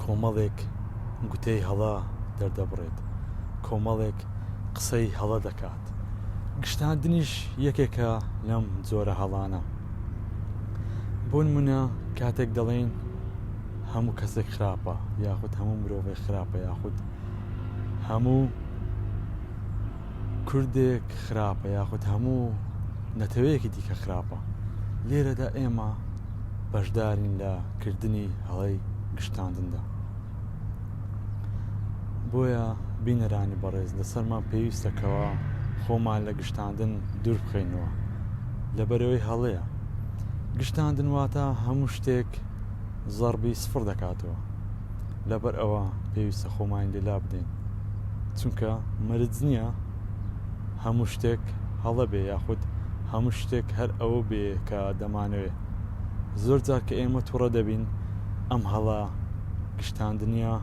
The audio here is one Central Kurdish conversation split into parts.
کۆمەڵێک گوتەی هەڵە دەردەبڕێت، کۆمەڵێک قسەی هەڵە دەکات، گشتاندنیش یەکێکە لەم جۆرە هەڵانە. بۆنمونە کاتێک دەڵێین هەموو کەسێک خراپە، یاخود هەموو مرۆڤێک خراپە، یاخود هەموو کوردێک خراپە یاخود هەموو نەتەوەیەکی دیکە خراپە، لێرەدا ئێمە بەشدارین لە کردنی هەڵەی گشتاندندا. بۆیە بینەرانی بەڕێز لەسەرمان پێویستە کەوا خۆمان لە گشتاندن دوور بخەینەوە، لەبەرەوەی هەڵەیە. گشتاندن واتە هەموو شتێک زەڕبی سفڕ دەکاتەوە. لەبەر ئەوە پێویستە خۆمانی لێ لابدەین چونکە مەرج نییە هەموو شتێک هەڵە بێ یاخود هەموو شتێک هەر ئەوە بێ کە دەمانەوێ زۆر جار کە ئێمە توڕە دەبین ئەم هەڵە گشتاندنیە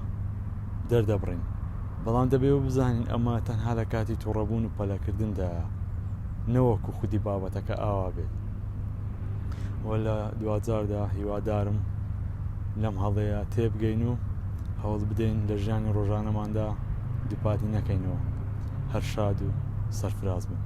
دەردەبڕین بەڵام دەبێ و بزانین ئەمە تەنها لە کاتی توڕەبوون و پەلەکردندایە نەوەکو خودی بابەتەکە ئاوا بێت و لە دواجاردا هیوادارم لەم هەڵەیە تێبگەین و هەوڵ بدەین لە ژیانی ڕۆژانەماندا دووپاتی نەکەینەوە هەر شاد و سەرفراز بن.